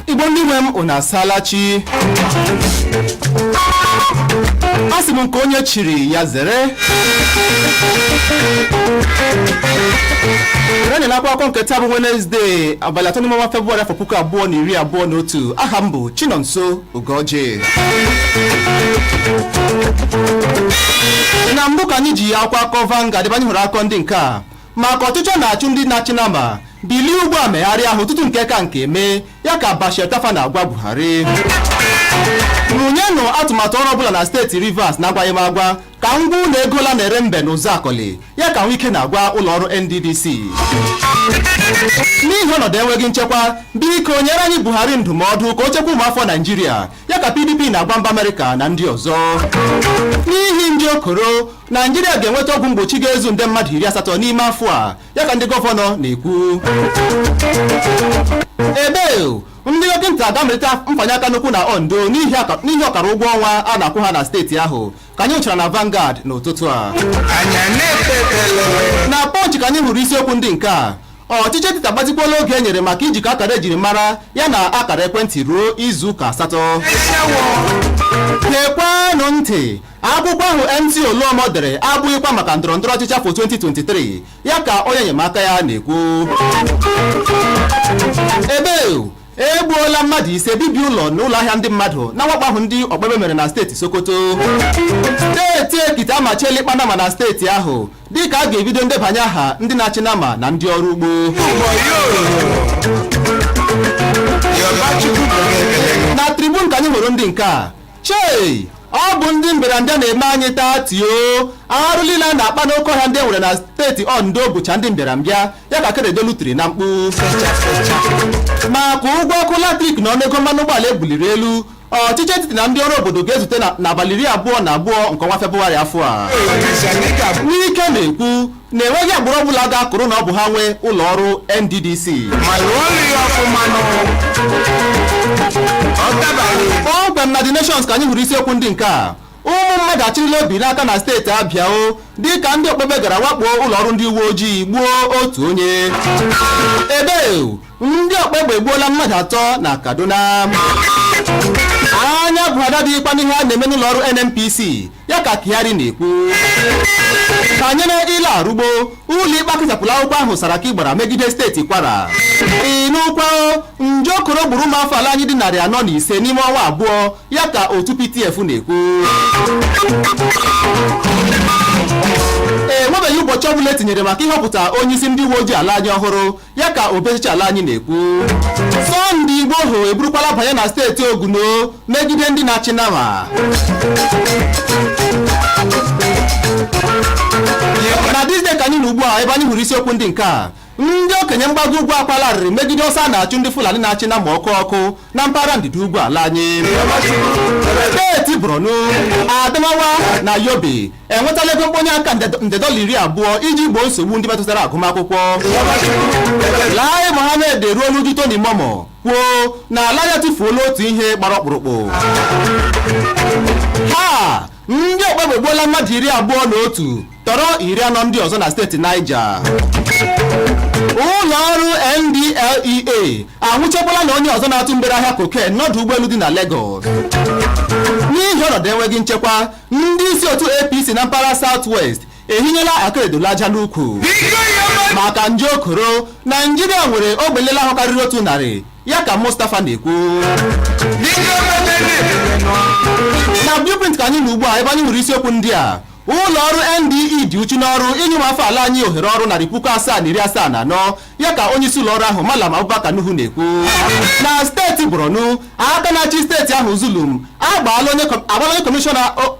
igbo ndị nwe m unu asaala chi a sị m nke onye chiri ya zere anya na akwụkwọ akụkọ nke taa bụ wenezdee abalị atọ n'ime ọnwa febụwarị afọ puku abụọ na iri abụọ na otu aha m bụ chinọnso ugọji na mbụ ka anyị ji ya akwụkwọ akụkọ vanguard ebe anyị hụrụ akụkọ ndị nke a maka ọchụchụ a na-achụ ndị na-achị nama bilie ugbu a megharịa ahụ tutu nke ka nke emee ya ka Bashir Tofa na-agwa Buhari rụnyenụ atụmatụ ọrụ ọbụla na steeti Rivers na-agwaghị m agwa ka m gwa unu ego ole a na-ere mbe na Ụzụakọlị ya ka Nwike na-agwa ụlọ ọrụ NDDC n'ihi ọnọdụ enweghị nchekwa biko nyere anyị Buhari ndụmọdụ ka o chekwa ụmụafọ Naijiria ya ka PDP na-agwa mba Amerịka na ndị ọzọ n'ihi nje koro Naijiria ga-enweta ọgwụ mgbochi ga-ezu nde mmadụ iri asatọ n'ime afọ a ya ka ndị gọvanọ na-ekwu ebe ndị dọkịta ga-amalite mfanye aka n'ụkwụ na Ondo n'ihi ọkara ụgwọ ọnwa a na-akwụ ha na steeti ahụ ka anyị hụchara na Vanguard n'ụtụtụ a na Punch ka anyị hụrụ isiokwu ndị nke a ọchịchị etiti agbatịkwala oge e nyere maka ijikọ akara ejiri mara ya na akara ekwentị ruo izu ụka asatọ gekwanụ ntị Akwụkwọ ahụ MC Oluomo dere abụghịkwa maka ndọrọndọrọ ọchịchị afọ 2023, ya ka onye enyemaka ya na-ekwu. Ebe egbuola mmadụ ise bibie ụlọ na ụlọ ahịa ndị mmadụ na mwakpo ahụ ndị ọkpa egbe mere na steeti Sokoto. Steeti Ekiti amachiela ịkpa nama na steeti ahụ dịka a ga-ebido ndebanye aha ndị na-achị nama na ndị ọrụ ugbo. Na Tribune ka anyị hụrụ ndị nke a Chei! Ọ bụ ndị mbịarambịa na-eme anyị taa tio arụ niile a na-akpa n'oke ọhịa ndị e nwere na steeti Ondo bụcha ndị mbịarambịa ya ka Akeredolu tiri na mkpu maka ụgwọ ọkụ latrik na ọnụego mmanụ ụgbọala e buliri elu ọchịchị etiti na ndị ọrụ obodo ga-ezute n'abalị iri abụọ na abụọ nke ọnwa Febụwarị afọ a Nwike na-ekwu na enweghị agbụrụ ọbụla ga-akụrụ na ọ bụ ha nwe ụlọ ọrụ NDDC kpọmkwem na The Nations ka anyị hụrụ isiokwu ndị nke a ụmụ mmadụ achịrịla obi n'aka na steeti Abịa o dịka ndị ọkpa egbe gara wakpoo ụlọ ọrụ ndị uwe ojii gbuo otu onye ebe ndị ọkpa egbe egbuola mmadụ atọ na Kaduna anya Buhari adịghịkwa n'ihe a na-eme n'ụlọ ọrụ NNPC ya ka Kyari na-ekwu banyere Ile Arugbo ụlọikpe akụchapụla akwụkwọ ahụ Saraki gbara megide steeti Kwara ị nụkwa nje koro gburu ụmụ afọ ala anyị dị narị anọ na ise n'ime ọnwa abụọ ya ka otu PTF na-ekwu enwebeghị ụbọchị ọbụla e tinyere maka ịhọpụta onye isi ndị uwe ojii ala anyị ọhụrụ ya ka obi ọchịchị ala anyị na-ekwu sọnde igboho eburukwala banye na steeti oguno megide ndị na-achị nama na thisday ka anyị nọ ugbu a ebe anyị hụrụ isiokwu ndị nke a ndị okenye mgbago ugwu akwaala arịrị megide ọsọ a na-achụ ndị fulani na-achị nama ọkụ ọkụ na mpaghara ndịda ugwu ala anyị steeti borno adamawa na yobe enwetala ego mkponye aka nde dọla iri abụọ iji gboo nsogbu ndị metụtara agụmakwụkwọ Lai Mohammed eruola uju Tony Momoh kwuo na ala anyị atụfuola otu ihe gbara ọkpụrụkpụ ha ndị ọkpa egbe egbuola mmadụ iri abụọ na otu tọrọ iri anọ ndị ọzọ na steeti Niger ụlọ ọrụ NDLEA anwụchikwala na onye ọzọ na-atụ mgbere ahịa cocaine n'ọdụ ụgbọelu dị na Lagos n'ihi ọnọdụ enweghị nchekwa Ndị isi otu APC na mpaghara South West ehinyela Akeredolu aja n'ukwu maka nje okoro Naijiria nwere ogbe nlele ahụ karịrị otu narị ya ka Mustapha na-ekwu na blueprint ka anyị nọ ugbu a ebe anyị nwere isiokwu ndị a ụlọ ọrụ NDE dị uchu n'ọrụ inye ụmụafọ ala anyị ohere ọrụ narị puku asaa na iri asaa na anọ ya ka onye isi ụlọọrụ ahụ Malam Abubakar Nuhu na-ekwu na steeti Borno aka na-achị steeti ahụ Zulum agbaala onye kọ- agbaala onye kọmishọna o-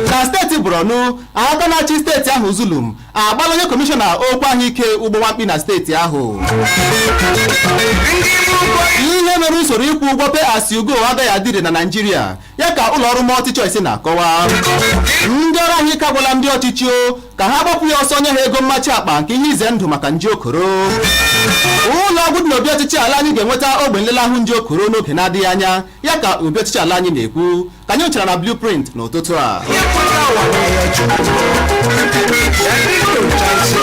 na steeti Borno aka na-achị steeti ahụ Zulum agbaala onye kọmishọna okwu ahụike ụgbọ nwamkpi na steeti ahụ ihe mere usoro ịkwụ ụgwọ pay as you go agaghị adị ire na Naịjirịa ya ka ụlọọrụ multichoice na-akọwa ndị ọrụ ahụike agwala ndị ọchịchị o ka ha gbapụ ya ọsọ nye ha ego mmachi akpa nke ihe ize ndụ maka nje okoro ụlọ ọgwụ dị n'obi ọchịchị ala anyị ga-enweta ogbe nlele ahụ nje okoro n'oge na-adịghị anya ya ka obi ọchịchị ala anyị na-ekwu ka anyị nyochara na blueprint n'ụtụtụ a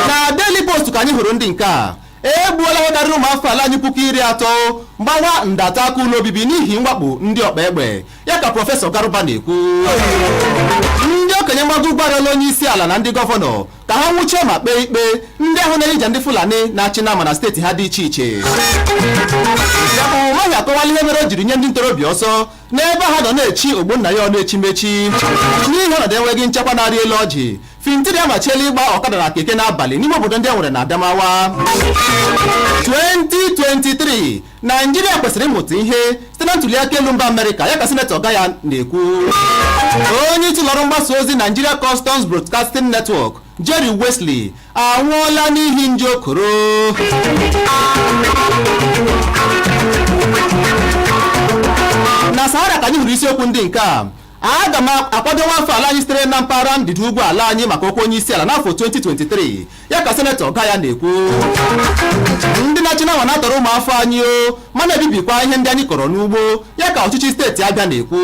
na daily post ka anyị hụrụ ndị nke a E gbuola ihe karịrị ụmụafọ ala anyị puku iri atọ gbawa nde atọ aka ụlọ obibi n'ihi mwakpo ndị ọkpa egbe ya ka prọfesọ Garuba na-ekwu ndị okenye mgbago ugwu arịọla onye isi ala na ndị gọvanọ ka ha nwụchie ma kpee ikpe ndị ahụ na-eyija ndị Fulani na-achị nama na steeti ha dị iche iche Dave Umahi akọwala ihe mere o jiri nye ndị ntorobịa ọsọ n'ebe ha nọ na-echi ogbo nna ya ọnụ echimechi n'ihi ọnọdụ enweghị nchekwa na-arị elu ọjị fintiri amachiela ịgba ọkada na keke n'abalị n'ime obodo ndị e nwere na adamawa 2023 naijiria kwesịrị ịmụta ihe site na ntuliaka elu mba amerịka ya ka sinetọ gaya na-ekwu onye isi ụlọọrụ mgbasa ozi nigeria customs broadcasting network Jerry Wesley anwụọla n'ihi nje okoro na sahara ka anyị hụrụ isiokwu ndị nke a aga m akwado nwafọ ala anyị sitere na mpaghara ndịda ugwu ala anyị maka okwu onye isi ala n'afọ 2023 ya ka senetọ Gaya na-ekwu ndị na-achị nama na-atọrọ ụmụafọ anyị o ma na-ebibikwa ihe ndị anyị kọrọ n'ugbo ya ka ọchịchị steeti abịa na-ekwu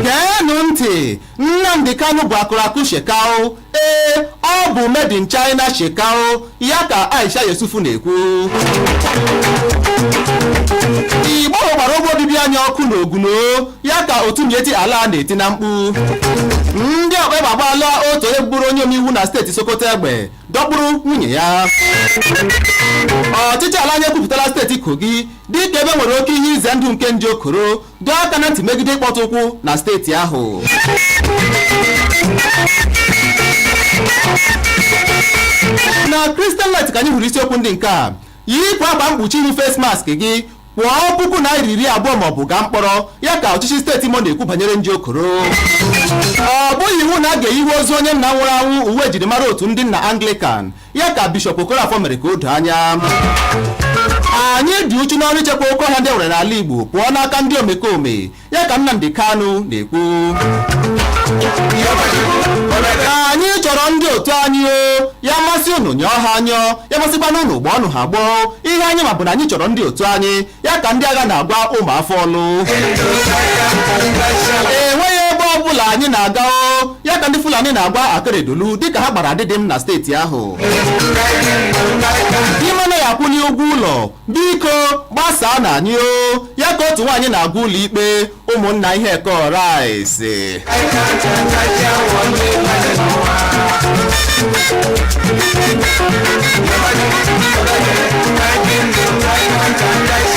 geenụ ntị Nnamdi Kanu bụ akụrakụ Shekau, ee, ọ bụ made in China Shekau, ya ka Aisha Yesufu na-ekwu. Igboho gbara ogbe obibi anyị ọkụ n'Ogun o, ya ka otu Miyetti Allah na-eti na mkpu. Ndị ọkpa egbe agbaala otu onye bụrụ onye omeiwu na steeti Sokoto egbe dọkpụrụ nwunye ya. Ọchịchị ala anyị ekwupụtala steeti Kogi dịka ebe nwere oke ihe ize ndụ nke nje okoro dọọ aka na ntị megide ịkpọtụ ụkwụ na steeti ahụ na Christian Light ka anyị hụrụ isiokwu ndị nke a yipụ akwa mkpuchi ihu face mask gị kwụọ puku naira iri abụọ ma ọ bụ gaa mkpọrọ ya ka ọchịchị steeti Imo na-ekwu banyere nje okoro ọ bụghị iwu na a ga-eyiwe ozu onye nna nwụrụ anwụ uwe ejirimara otu ndị nna Anglican ya ka Bishọp Okorafor mere ka o doo anya anyị dị uchu n'ọrụ ichekwa oke ọhịa ndị e nwere n'ala Igbo pụọ n'aka ndị omekome ya ka Nnamdi Kanu na-ekwu anyị chọrọ ndị otu anyị o ya masị unu nyụọ ha anyụọ ya masịkwanụ unu gbọọnụ ha agbọọ ihe anyị ma bụ na anyị chọrọ ndị otu anyị ya ka ndị agha na-agwa ụmụ afọ ọlụ enweghị ebe ọ bụla anyị na-aga o ya ka ndị fulani na-agwa akeredolu dịka ha gbara adịdịm na steeti ahụ di m anaghị akwụli ụgwọ ụlọ biko gbasaanụ anyị o ya ka otu nwaanyị na-agwa ụlọ ikpe ụmụnna ihe kọrọ anyị si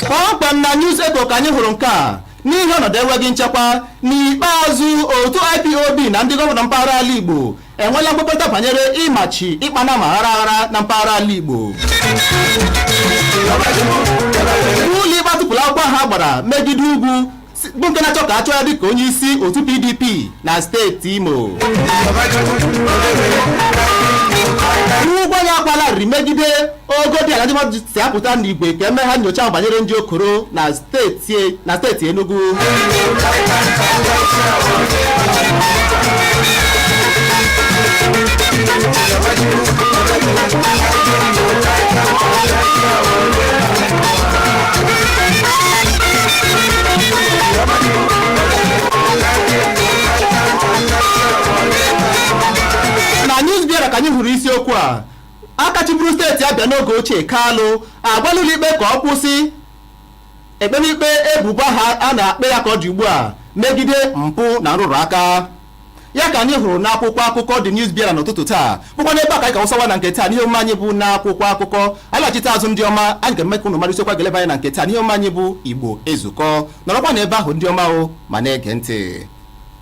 kpọmkwem na news echo ka anyị hụrụ nke a n'ihi ọnọdụ enweghị nchekwa n'ikpeazụ otu ipob na ndị gọvanọ mpaghara ala igbo enweela nkwekọta banyere ịmachi ịkpa nama aghara aghara na mpaghara ala Igbo ụlọ ikpe atụpụla akwụkwọ ha gbara megide Ugwu bụ nke na-achọ ka a chụọ ya dịka onye isi otu PDP na steeti Imo ụgwọ ya akwaala arịrị megide ogo dị ala ndị mmadụ si apụta n'igwe ka e mee ha nyocha banyere nje koro na steeti na steeti Enugu na Newsbearer ka anyị hụrụ isiokwu a Aka chịburu steeti Abịa n'oge ochie Kalụ agwala ụlọikpe ka ọ kwụsị ekpemikpe ebubo ha a na-ekpe ya ka ọ dị ugbu a megide mpụ na nrụrụ aka ya ka anyị hụrụ n'akwụkwọ akụkọ The Newsbearer n'ụtụtụ taa bụkwa n'ebe a ka anyị ga-awụsawa na nke taa n'ihe omume anyị bụ n'akwụkwọ akụkọ anyị lachite azụ ndị ọma anyị ga-eme ka unu mara isiokwu ga-eleba anya na nke taa n'ihe omume anyị bụ Igbo Ezukọ nọrọkwa n'ebe ahụ ndị ọma o ma na-ege ntị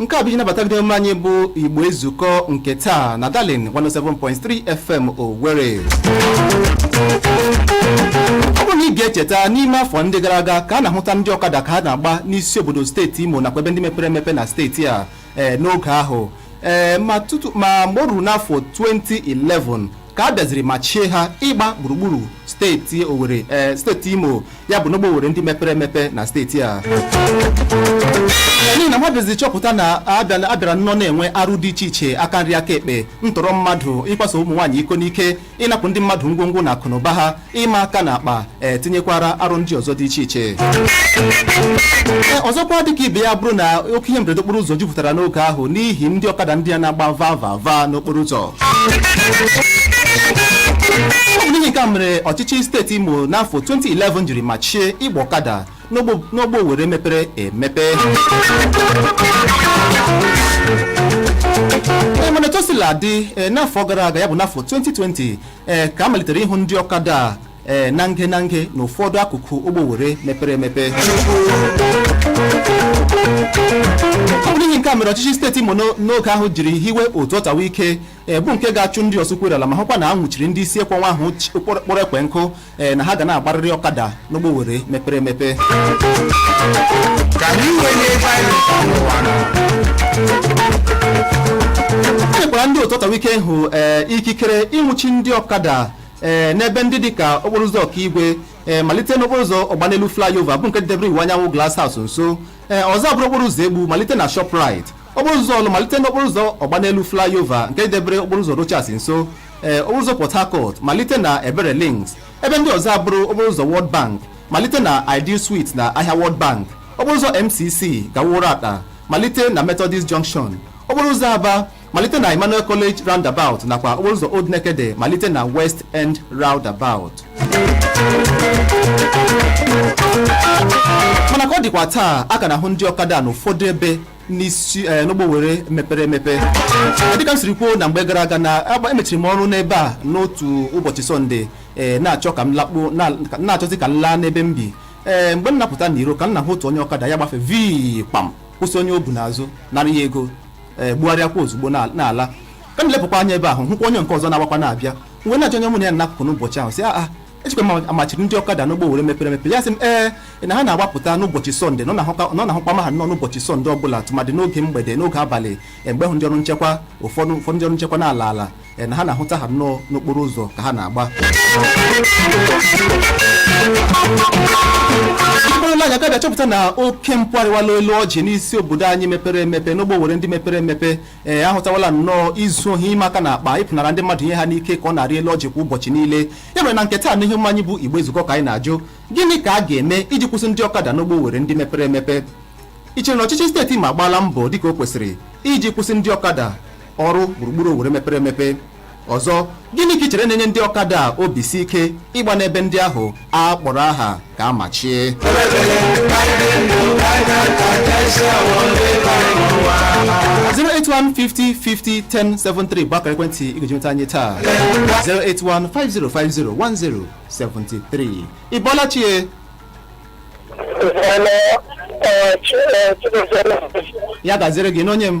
nke a bụ iji nabata gị n'omume anyị bụ igbo ezukọ nke taa na darling 107.3 fm owere ọ bụrụ na ị ga-echeta n'ime afọ ndị gara aga ka a na-ahụta ndị ọkada ka ha na-agba n'isi obodo steeti imo nakwa ebe ndị mepere emepe na steeti a ee n'oge ahụ ee ma tutu ma mgbe o ruru n'afọ 2011 ka a bịaziri machie ha ịgba gburugburu steeti Owerri ee steeti Imo ya bụ n'ogbe Owerri ndị mepere emepe na steeti a n'ihi na ha bịaziri chọpụta na a bịala- a bịara nnọọ na-enwe arụ dị iche iche aka nri aka ekpe ntọrọ mmadụ ịkwaso ụmụ nwaanyị iko n'ike ịnapụ ndị mmadụ ngwongwo na akụnụba ha ịma aka na akpa e, tinyekwara arụ ndị ọzọ dị iche iche e, ọzọkwa dịka ibe ya bụrụ na oke ihe mberede okporo ụzọ jupụtara n'oge ahụ n'ihi ndị ọkada ndị a na-agba va va va n'okporo ụzọ ọ bụ n'ihi nke a mere ọchịchị steeti imo n'afọ 2011 jiri machie ịgba ọkada n'ogbo- n'ogbe owere mepere emepe Ee, mana etu o sila dị ee, n'afọ gara aga ya bụ n'afọ 2020 ee ka a malitere ịhụ ndị ọkada a ee na nge na nge na ụfọdụ akụkụ ogbe Owere mepere emepe ọ bụ n'ihi nke a mere ọchịchị steeti Imo n'o- n'oge ahụ jiri hiwe otu ọtawa ike ee, bụ nke ga-achụ ndị ọsọ ụkwụ eru ala ma hụkwa na a nwụchiri ndị isi ekwe ọnwụ ahụ chi- kpọrọ kpọrọ ekwe nkụ ee na ha ga na-agbarịrị ọkada n'ogbe owere mepere emepe. e nyekwara ndị otu ọtawa ike ahụ ee ikikere ịnwụchi ndị ọkada ee n'ebe ndị dịka okporo ụzọ okigwe ee malite n'okporo ụzọ ọgbanelu flyover bụ nke debere iwuanyanwụ glass house nso ee ọzọ bụrụ okporo ụzọ egbu malite na shoprite okporo ụzọ ọlụ malite n'okporo ụzọ ọgbanelu flyover nke dịdebere okporo ụzọ rochas nso ee okporo ụzọ port harcourt malite na ebere links ebe ndị ọzọ abụrụ okporo ụzọ world bank malite na ideal suite na ahịa world bank okporo ụzọ mcc gawa uratta malite na methodist junction okporo ụzọ aba malite na emmanuel college roundabout nakwa okporo ụzọ old nekede malite na west end roundabout mana ka ọ dịkwa taa a ka na-ahụ ndị ọkada n'ụfọdụ ebe n'isi eh, n'ogbe Owerri mepere emepe Eh, dịka m siri kwuo na mgbe gara aga na agba- emechiri m ọrụ n'ebe a n'otu ụbọchị sọnde eh, na-achọ ka m lakpuo na- ka- na-achọzi ka m laa n'ebe m bi ee mgbe m napụta n'iro ka m na-ahụ otu onye ọkada ya gbafe vii kpam kwụsị onye o bu n'azụ nara ya ego ee gbugharịakwa ozugbo na- n'ala ka m lepụkwa anya ebe ahụ hụkwa onye nke ọzọ na-agbakwa na-abịa mgbe na-ajụ onye mụ na ya n'akụkụ n'ụbọchị ahụ sị ya echekwa m a machiri ndị ọkada n'ogbe Owerri mepere emepe ya sị m ee na ha na-agbapụta n'ụbọchị sọnde na ọ na-ahụka- na ọ na-ahụkwa ma ha nọ n'ụbọchị sọnde ọbụla tụmadị n'oge mgbede n'oge abalị e, mgbe ahụ ndị ọrụ nchekwa ụfọdụ ụfọdụ ndị ọrụ nchekwa na-ala ala e, na ha na-ahụta ha nnọọ n'okporo ụzọ ka ha na-agba mkpụrụla anya gabịa chọpụta na oke mpụ arịwala elu ọjị n'isi obodo anyị mepere emepe n'ogbe Owerri ndị mepere emepe ee ahụtawala nnọọ izu ohi ịma aka na akpa ịpụnara ndị mmadụ ihe ha n'ike ka ọ na-arị elu ọjị kwa ụbọchị niile ya mere na nke taa n'ihe omume anyị bụ Igbo ezukọọ ka anyị na-ajụ gịnị ka a ga-eme iji kwụsị ndị ọkada n'ogbe Owerri ndị mepere emepe ị chere na ọchịchị steeti Imo agbaala mbọ dịka o kwesịrị iji kwụsị ndị ọkada ọrụ gburugburu Owerri mepere emepe Ọzọ, gịnị ka i chere na-enye ndị ọkada a obi si ike ịgba n'ebe ndị ahụ a kpọrọ aha ka a machie? zero eight one fifty fifty ten seven three bụ akara ekwentị ị ga-eji nweta anyị taa zero eight one five zero five zero one zero seventy three ị bọọla chi ee ya gaziere gị nwanne m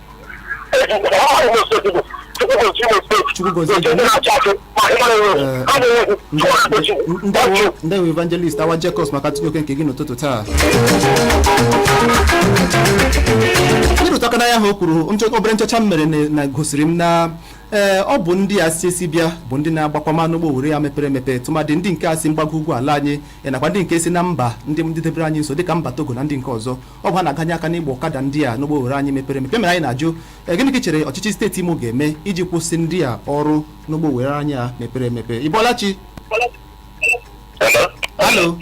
ndewo evangelist awa jekos maka ntụnye oke nke gị n'ụtụtụ taa ịrụtụ aka n'ihe ahụ o kwuru obere nchọcha m mere na gosiri m na ee eh, ọ bụ ndị a si esi bịa bụ ndị na-agbakwanụ n'ogbe Owerri a mepere emepe tụmadị ndị nke a si mgbago ugwu ala anyị eh, nakwa ndị nke si na mba dịdebere anyị nso dịka mba togo na ndị nke ọzọ ọ bụ ha na-aganye aka n'ịgba ọkada ndị a n'ogbe Owerri anyị mepere emepe mere anyị na-ajụ "Eh, gịnị ka ị chere ọchịchị steeti imo ga-eme iji kwụsị ndị a ọrụ n'ogbe Owerri anyị a mepere emepe ị bọọla chi Hello? alo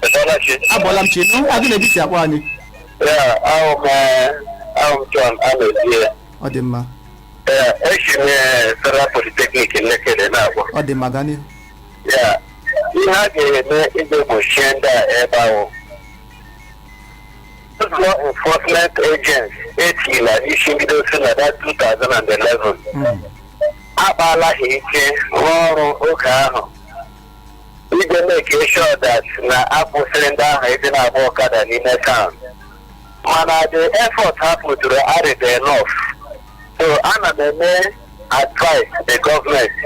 Ị bọọla chi? abọọla m chi nụ aha gị na ebe i si akpọ anyị Ya, abụ m eh, abụ m John Amezie. ọ dị mma Ya, esi m eh, Federal Polytechnic Nekede na-agwa. ọ dị mma gaa n'ihu ya ihe a ga-eme iji gbochie ndị a ebe ahụ Those law enforcement agents etila isi bido si na that 2011 Mm. akpaala ha ike rụọ ọrụ oge ahụ iji make sure that na a kwụsịrị ndị ahụ ịdị na-agba ọkada n'ime town mana the effort ha pụtụrụ adịghị enough so ana m eme advice the gọọmenti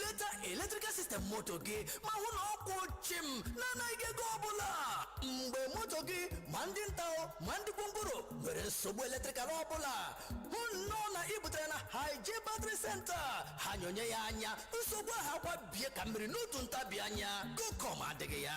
leta eletrikal sistem moto gị ma hụ na ọ kwụ chịm na-anaghị ego ọbụla mgbe moto gị ma ndị nta o, ma ndị gwongworo nwere nsogbu eletrikal ọbụla hụ nnọọ na ị butere na haije batri senta ha nyonye ya anya nsogbu ahụ akwa bie ka mmiri n'otu ntabi anya kokom adịghị ya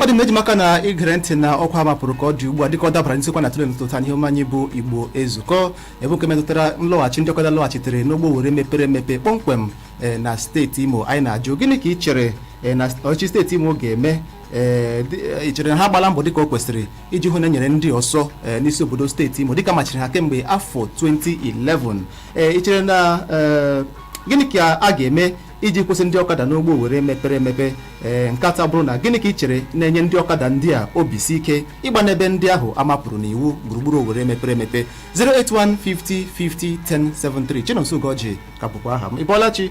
ọ dị mma e ji maka na i gere ntị na ọkwa mapụrụ ka ọ dị ugbu a dịka ọ dabara n'isiokwu a na-atụle n'ụtụtụ a n'ihe omume anyị bụ igbo ezukọ bụ nke metụtara nlọghachi ndị ọkada lọghachitere n'ogbe owere mepere emepe kpọmkwem eh, na steeti imo anyị na-ajụ gịnị ka ị chere eh, na ọchịchị steeti imo ga-eme ee dị- e, i chere na ha agbaala mbọ dịka o kwesịrị iji hụ na e nyere ndị ọsọ ee, n'isi obodo steeti imo dịka a machiri ha kemgbe afọ 2011 ee i chere na ee, gịnị ka a ga-eme iji kwụsị ndị ọkada n'ogbe owere mepere emepe ee nke atọ bụrụ na gịnị ka i chere na-enye ndị ọkada ndị a obi si ike ịgba n'ebe ndị ahụ a mapụrụ n'iwu gburugburu owere mepere emepe 08150501073 chinonso ugorji ka bụkwa aha m ịbọọla chi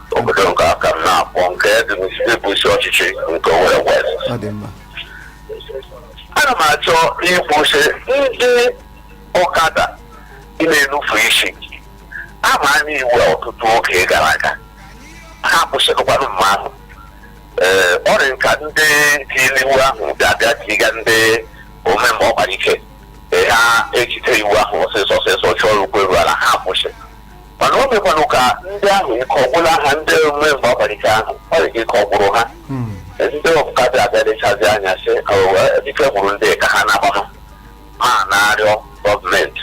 obodo nke aka m na-akpọ nke dị n'isi ọchịchị nke Owerri West ọ dị mma ana m achọ ịkwụsị ndị ọkada ị na-enupu isi a maala iwu a ọtụtụ oge gara aga ha kwụsịrịkwanụ mgbe ahụ ee ọ dị ka ndị tiri iwu ahụ ga-abịa tiga ndị ome mgbe ọ gbara ike ha ejide iwu ahụ ọsịsọ ọsịsọ chọrọ ukwe ruo ala ha kwụsị mana o mekwanụ ka ndị ahụ ike agwụla ha ndị ome mgbe ọ gbara ike ahụ ọ dị ka ike ọ gwụrụ ha ndị ọkada abịa lechazie anya sị ike gwụrụ ndị a ka ha na-agba ha ma na-arịọ gọọmenti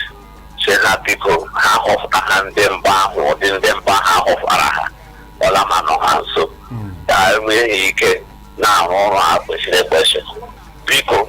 sị ha biko ha họpụta ha ndị mba ahụ ụdị ndị mba ha họpụtara ha ọla ma nọ ha nso ka ha nwee ike na-arụ ọrụ ha kwesịrị ekwesị biko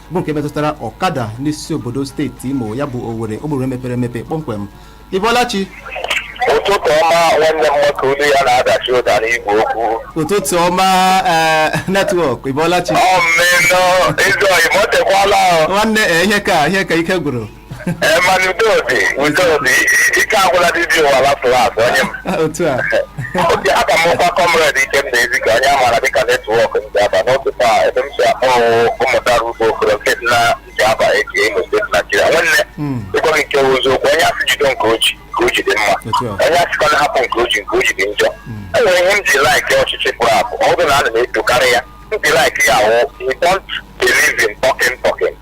bụ nke metụtara ọkada n'isi obodo steeti imo ya bụ owere obodo mepere emepe kpọmkwem ịbọlachi ụtụtụ ọma nwanne m nwoke olu ya na-adachi ụda n'igwe okwu ụtụtụ ọma ee, netwọk ịbọlachi ọmmenụ ezi ọyị m o tekwala nwanne ee, ihe ka ihe ka ike gwụrụ Eh, mana udo dị udo dị ike agwụla dibịa ụwa lafụrụ azụ onye m otu a okee aha m wụkwa kọmred ike m na-ezi ka onye amaara dịka netwọk ndị aba n'ụtụtụ a ebe m si akpọ ụmụtara ugbo okoro nke dị na nke aba eji imo steeti naijiria nwanne Mm. ịgwa gị nke bụ eziokwu onye a sị jido nke o ji nke o ji dị mma Otu a. onye a sịkwa na hapụ nke o ji nke o ji dị njọ e nwere ihe m ji laiki ọchịchị pụrụ apụ ọ bụrụ na ana m etokarị ya m ji laiki ya wụ he don't believe in talking talking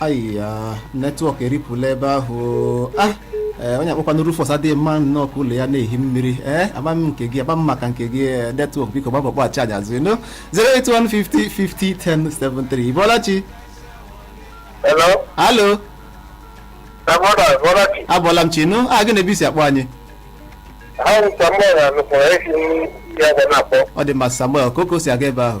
ayiya netwọk eripụla ebe ahụ ah ee, onye akpọkwana Rufus adịghị mma nnọọ ka ụlọ ya na-ehi mmiri ee ama m nke gị ama m maka nke gị ee, netwọk biko gbaa mbọ kpọghachi anyị azụ na 08150501073 ị bọla chi Hello? alo Samoda, Ị bọla chi. abọla m chi nụ aha gị na ebe i si akpọ anyị Aha m bụ Samuel Anụkwara esi m ya ga na-akpọ. ọ dị mma samuel kọọ ka o si aga ebe ahụ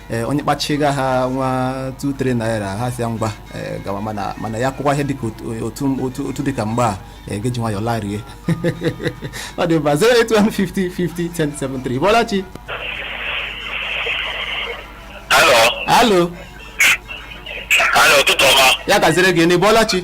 ee onye kpachiga ha nwa 23 naira ha si ya ngwa ee, gawa mana mana ya kwụkwa ihe dịka otu- otu otu otu dịka mgbe a ee, ga-eji nwayọ larie ọ dị mma 08150501073 ị bọla chi Alo, alo alo, ụtụtụ ọma. ya gaziri gị na ị bọla chi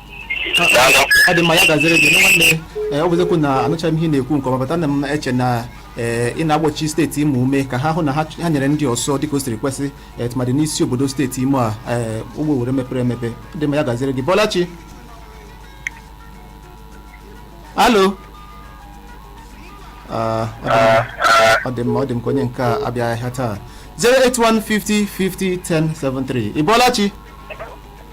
ọ dị mma ya gaziri gị nwanne ọ bụ eziokwu na anụchaghị m ihe ị na-ekwu nke ọma but ana m eche na ee ị na-agba ọchịchị steeti imo ume ka ha hụ na ha ha nyere ndị ọsọ dịka o siri kwesị ee, tụmadị n'isi obodo steeti imo a ee ọ bụ owere mepere emepe ọ dị mma ya gaziri gị ị bọla chi alo Ah, ọ dị mma. ọ dị mma ọ dị m ka onye nke a abịaghị ahịa taa 08150501073 ị bọla chi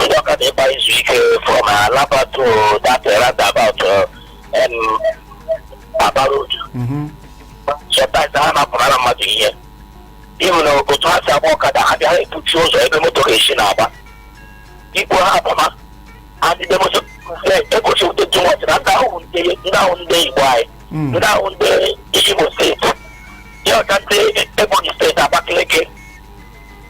ndị ọkada ịkpa isi ike from alaba to that roundabout um, aba road Mhm. sometimes ha na-apụnara mmadụ ihe even otu ha si agba ọkada ha bịa epuchi ụzọ ebe moto ga-esi na-agba i kwuo ha apụma adịde moto egosi ụdị dị nwatị na ndị ahụ ndị ndị ahụ ndị igbo anyị Mm. ndị ahụ ndị imo steeti ha wụcha ndị ebonyi steeti abakaliki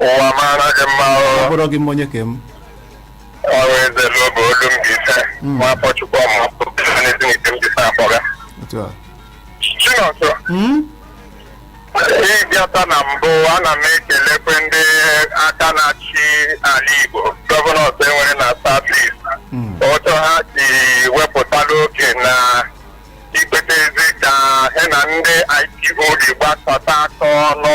ụwa mara gị mma ọ ọrụ bụrụ gị mma onye ka m ọrụ eze n'oge olu mbaise Mm. nwafọ chukwuọma n'ezinihitte mbaise akpọga otu a chinọsọ Mm? ịbịata na mbụ ana m ekelekwa ndị aka na-achị ala igbo gọvanọs e nwere na south east Mm. otu ha si wepụtala oge na ikpetezi ka ha na ndị IPOB gbakọta aka ọnụ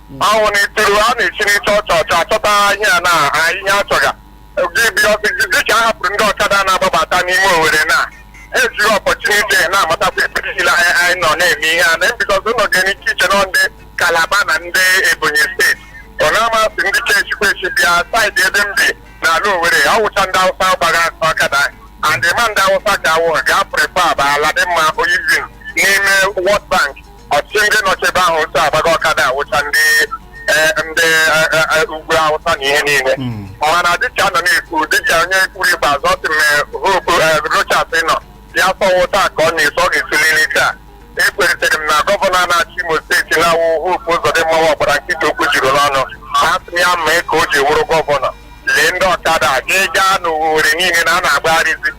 ọnwụ na ituru a na-esi n'ịchọ ọcha ọcha achọta ihe a na a ihe achọga gị bi ọsị dịka a hapụrụ ndị ọkada na-agbabata n'ime owere na ha ejiri opportunity na-amatakwa ebe niile anyị anyị nọ na-eme ihe a na mbikọta ụlọ ga-enye ike iche nọ ndị kalaba na ndị ebonyi steeti ọ na-amasị ndị chechikwa echi bịa side ebe m bi n'ala owere ọ wụcha ndị awụsa gbaga ọkada and ma ndị awụsa ga-awụ ga-apụrụ ebe a bụ Aladinma Housing n'ime World Bank ọchịchị ndị nọchi ebe ahụ otu agbaga ọkada awụcha ndị eh, ndị eh, eh, eh, ugwu awụsa na ihe niile Mm. mana dịka a nọ na-ekwu dịka onye kwuru ikpeazụ ọ sị m hope eh, Rochas nọ ya sọwụ taa ka ọ na-eso ọ ga-esilili taa ekweritere m na gọvanọ na-achị Imo steeti na-awụ Hope Uzodimma wụ ọ gbara nkịtị okwu juru n'ọnụ ha sị ya mee ka o ji wụrụ gọvanọ lee ndị ọkada a gị gaa n'Owerri niile na ha na-agbagharịzi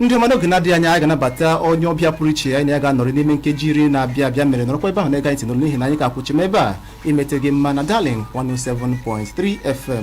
ndị mmadụ oge na-adịghị anya anyị ga-anabata onye ọbịa pụrụ iche anyị na ya ga-anọrị n'ime nkeji iri na-abịa abịa mere nọrọkwa ebe ahụ na-ege anyị ntị n'olu n'ihi na anyị ka kwụ chịm ebe a imeta gị mma na darling 107.3 fm